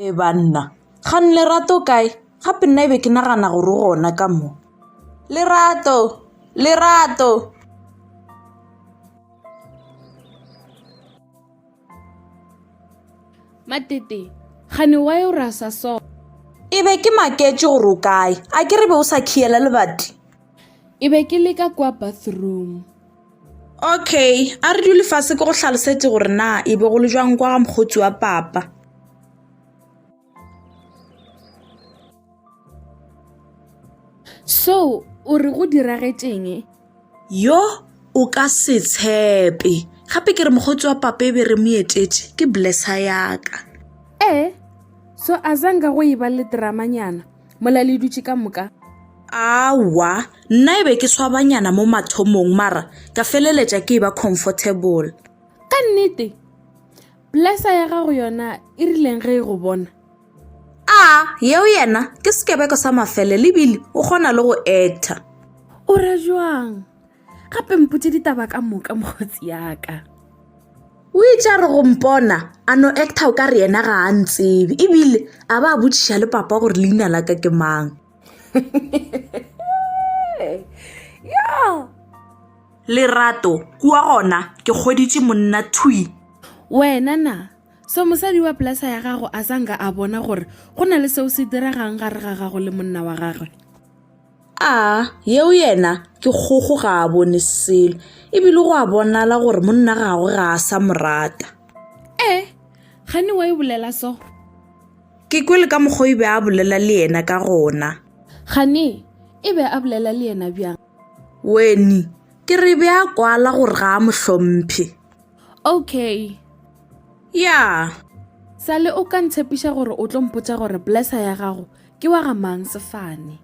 e banna kgang lerato kae gape nna e be ke nagana gore gona ka mo lerato lerato matete gane wa yo rasa so e be ke maketše gore o kae a ke re be o sa khiela lebati e be ke leka kwa bathroom okay a re dule fase ke go tlhalosetse gore na e be go le jwang kwa ga mokgotsi wa papa so o re go diragetšeng yo o ka se tshepe gape ke re mokgotsi wa papa e be re mo etetše ke blessa yaka ee so a zanga go eba le dramanyana mola le dutše ka moka awa nna e be ke swabanyana mo mathomong mara ka feleletša ke e ba comfortable ka nnete Plesa ya gago yona e rileng ge e go bona? A yeo yena ke sekebeko sa mafele le bile o kgona le go actor. O ra jwang? Gape mpotše ditaba ka moka mokgotsi yaka. O itše a re go mpona a no actor o ka re yena ga a ntsebe e bile a ba a botšiša le papa gore leina la ka ke mang. Yo! Lerato, Kua gona ke kgweditše monna thwi. Wena na? So mosadi wa pelasa ya gago a sa nka a bona gore go na le seo se diregang gare ga gago le monna wa gagwe? A, yeo yena ke kgogo ga a bone selo, ebile go a bonala gore monna gagwe ga a sa mo rata. E, gane wa e bolela so? Ke kwele ka mokgwa o e be a bolela le yena ka gona. Gane e be a bolela le yena bjang? Weni, ke re be a kwala gore ga a mo hlomphe. Okay. Ya. Sale o ka ntshepiša gore o tlo mpotša gore blesser ya gago ke wa ga mang sefane.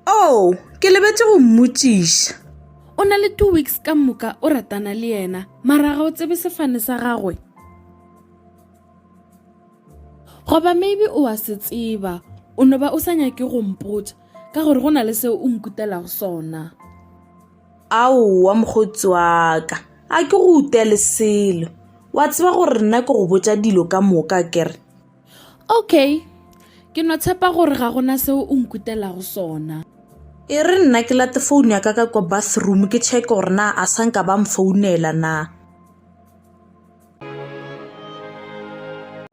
Oh, ke lebetše go mmotšiša. O na le two weeks ka moka o ratana le yena, mara ga o tsebe sefane sa gagwe. Goba maybe o a se tseba, o no ba o sa nyake go mpotša. ka gore go na le seo o nkutelago sona aowa mokgotsi wa ka a ke go utele selo wa tseba gore nna ke go botsa dilo ka moka kere okay ke no tshepa gore ga gona seo o nkutelago sona e re nna ke late founu ya ka ka kwa bathroom ke check gore na a sa nka ba mfounela na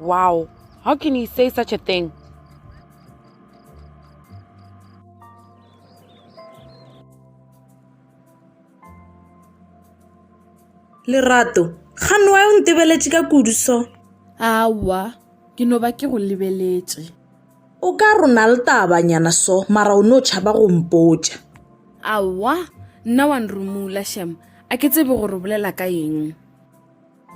Wow, how can he say such a thing? lerato ga noe o ntebeletše ka kudu so aowa ke no ba ke go lebeletše o ka rona le tabanyana so mara o ne o tšhaba go mpotša aowa nna wa nrumula shem a ke tsebe gore o bolela ka eng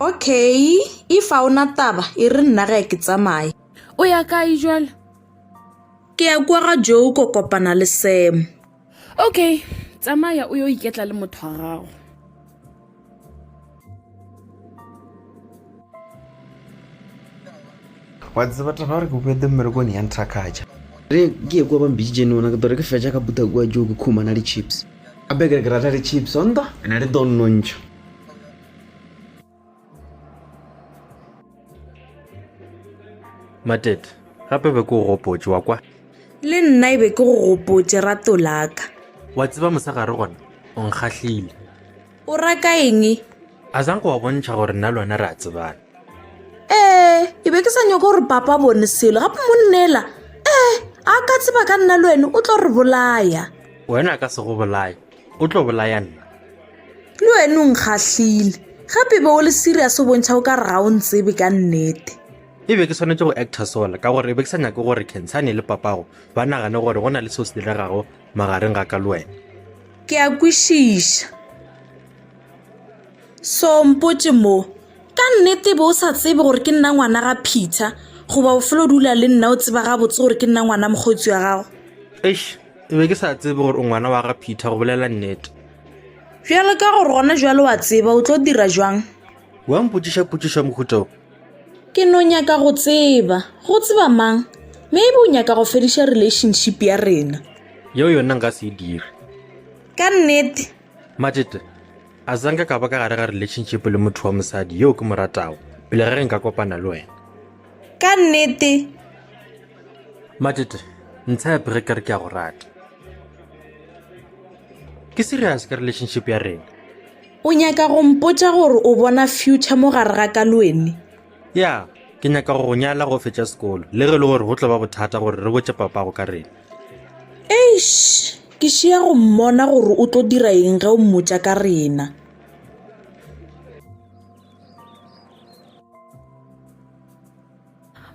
Okay, if a ona taba e re nna ga ke tsamaye. O ya kae jwale? Ke ya kwa ga Joe ko kopana le Sam. Okay, tsamaya o yo iketla le motho wa gago. wa tseba taba gore ke boete mmerekone ya nthakgatša re ke ye kua ba mbiditše ne ona ke tore ke fetša ka buta kua joo ke khumana le chips gape ke re ke rata le chips onta ena le donnontšha matete gape be ke go gopotse wa kwa le nna e be ke go gopotse rato laka wa tseba mosegare gona o nkgahlile o raka eng a zang go wa bontšha gore nna lona re a tsebana ee e be ke sa nyoko gore papa bone selo gape monnela ee a ka tseba ka nna le wena o tlo re bolaya wena ka se go bolaya O tlo bolaya nna. Le wena o nkgahlile. Gape be o le serious o bontšha o ka re ga o ntsebe ka nnete. E be ke swanetše go actor sola ka gore e be ke sa nyake gore Khensani le papago ba nagane gore go na le seo se diregago magareng ga ka le wena. Ke a kwešiša. So mpotše mo, ka nnete be o sa tsebe gore ke nna ngwana ga Peter goba o fela o dula le nna o tseba gabotse gore ke nna ngwana mokgotsi wa gago? Eish! Ke be ke sa tsebe gore o ngwana wa ga Peter go bolela nnete. Bjalo ka gore gona jwale wa tseba o tlo dira jwang? Wa mpotšiša potšišo ya mohuta o? Ke no nyaka go tseba. Go tseba mang? Maybe o nyaka go fediša relationship ya rena. Yeo yona nka se e dire. Ka nnete? Matšete, a zanka ka ba ka gare ga relationship le motho wa mosadi yeo ke mo ratago pele ga ge nka kopana le wena. Ka nnete. Matete, ntshepe ge ke re ke a go rata. Ke serious ka relationship ya rena. O nyaka go mpotša gore o bona future mo gare ga ka lwene? Ya, ke nyaka go go nyala go fetša sekolo, le ge e le gore go tlo ba bothata gore re botše papago ka rena. Eish, ke šia go mmona gore o tlo dira eng ge o mmotša ka rena.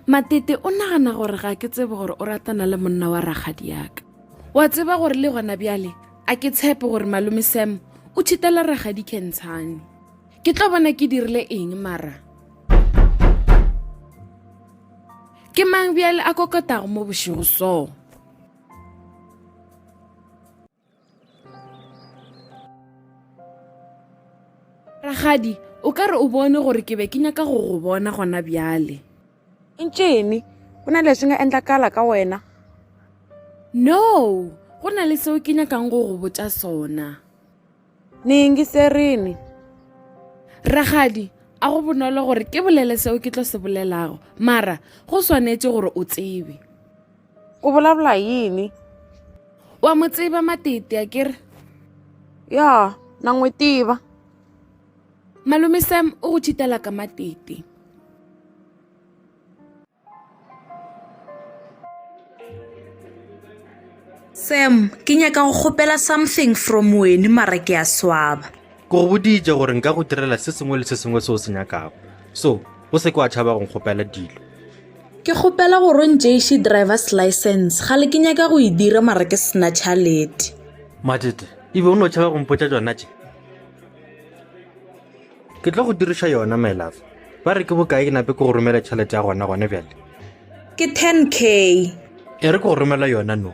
matete o nagana gore ga ke tsebe gore o ratana le monna wa ragadi yaka wa tseba gore le gona bjale a ke tshepe gore malome sam o thitela ragadi kentshane ke tlo bona ke dirile eng mara ke mang bjale a kokotago mo bošego soo ragadi o ka re o bone gore ke be ke nyaka go go bona gona bjale ntšene go na le se nga endlakala ka wena no go na le seo ke nyakang go go botsa sona nengi serene ragadi a go bonolo gore ke bolele seo ke tlo se bolelago mara go swanetše gore o tsebe o bolabola yini wa mo tseba matete a kere ya na n'wi tiva malume sam u ku chitela ka matete sam ke nyaka go kgopela something from wene mara ke a swaba Ke go boditše gore nka go direla se sengwe le se sengwe se o se nyakago. So, o se ke wa tšhaba go nkgopela dilo. Ke kgopela go rontšeiši driver's license ga le ke nyaka go e dira mara ke sena tšhalete. Matete, ebe o no tšhaba go mpotša tšona tše? Ke tlo go diriša yona, my love. Ba re ke bokae ke nape ke go romela tšhalete ya gona gone bjale? Ke 10 k. E re ke go romela yona no.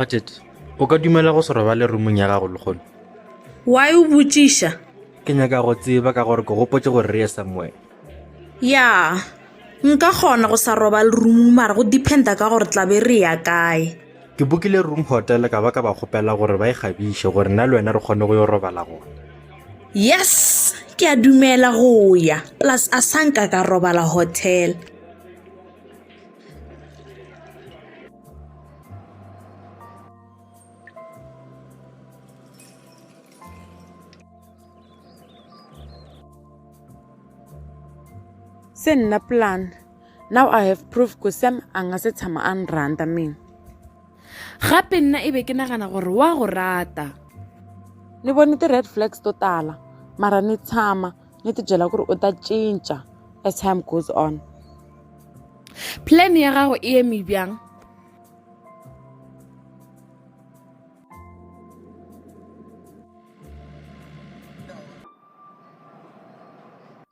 Budget, o ka dumela go se robale rumong ya gago lekgono why o botšiša ke nyaka go tseba ka gore ke gopotse gore re ye somewhere ya nka kgona go sa robale rumong mara go dependa ka gore tlabe re ya kae Ke bukile room hotel ka ba ka ba kgopela gore ba e kgabiše gore nna le wena re kgone go yo robala gona. Yes, ke a dumela go ya. Plus a sanka ka robala hotel. se nna plan now i have proof ku sam a nga se tshama a nranda mina gape nna e be ke nagana gore wa go rata ni bone ti-red flags to tala mara ni tshama ni tibyela ku ri u ta cinca as time goes on plan ya gago e eme bjang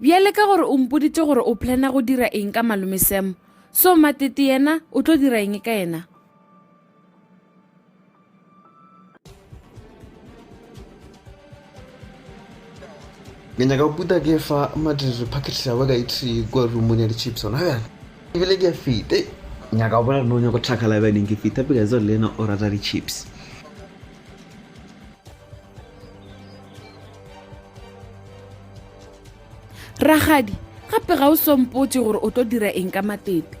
bjale ka gore o mpoditše gore o plana go dira eng ka malome sam so matete yena o tlo dira eng ka yena ke nyaka puta ke fa matete packet sa ba ka itse kwa rumone ya di-chips ona bjale ebile ke a fete nyaka o bona gore ne o nyako tlhakala bjaneng ke feta pekaetsa le ena o rata di-chips ragadi gape ga o sompotse gore o tlo dira eng ka matete